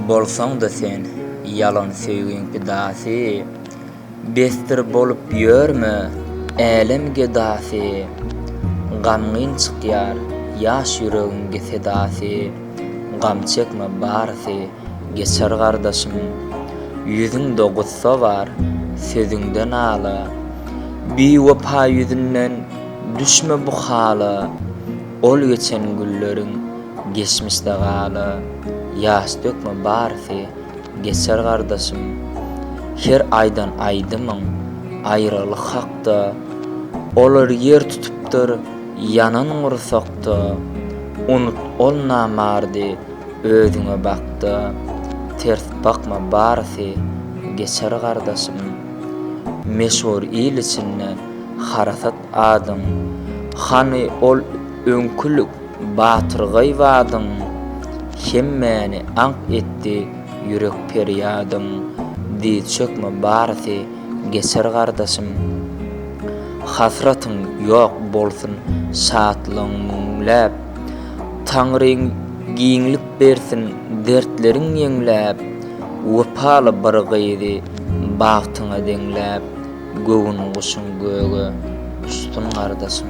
Bolsaň-da sen ýalan söýgiň pidasy, Besdir bolup ýörme, älem gedasy. Gamgyn çykýar ýaş ýüregiň ge sedasy, Gam çekme barysy. Geçer gardaşym, ýüzüňde gussa bar, sözüňde nala, Biwepa ýüzünden düşme bu hala, Ol geçen günleriň geçmişde gala, Ýaş dökme barysy geçer gardaşym, Her aýdan aýdymyň aýralyk hakda, Olar ýer tutupdyr ýanan gursakda, Unut ol namardy Özüňe bakda ters bakma barysy geçer gardaşym meşhur il içinde harasat adyň hany ol öňkülik batyrgaý badyň hemmäni aňk etdi ýürek perýadyň dyz çökme barysy geçer gardaşym hasratyň ýok bolsun şatlygyň müňläp Taňryň giňlik bersin dertleriň ýeňläp Wepaly bir gyzy bagtyňa deňläp Göwün guşuň göge uçsun gardaşym.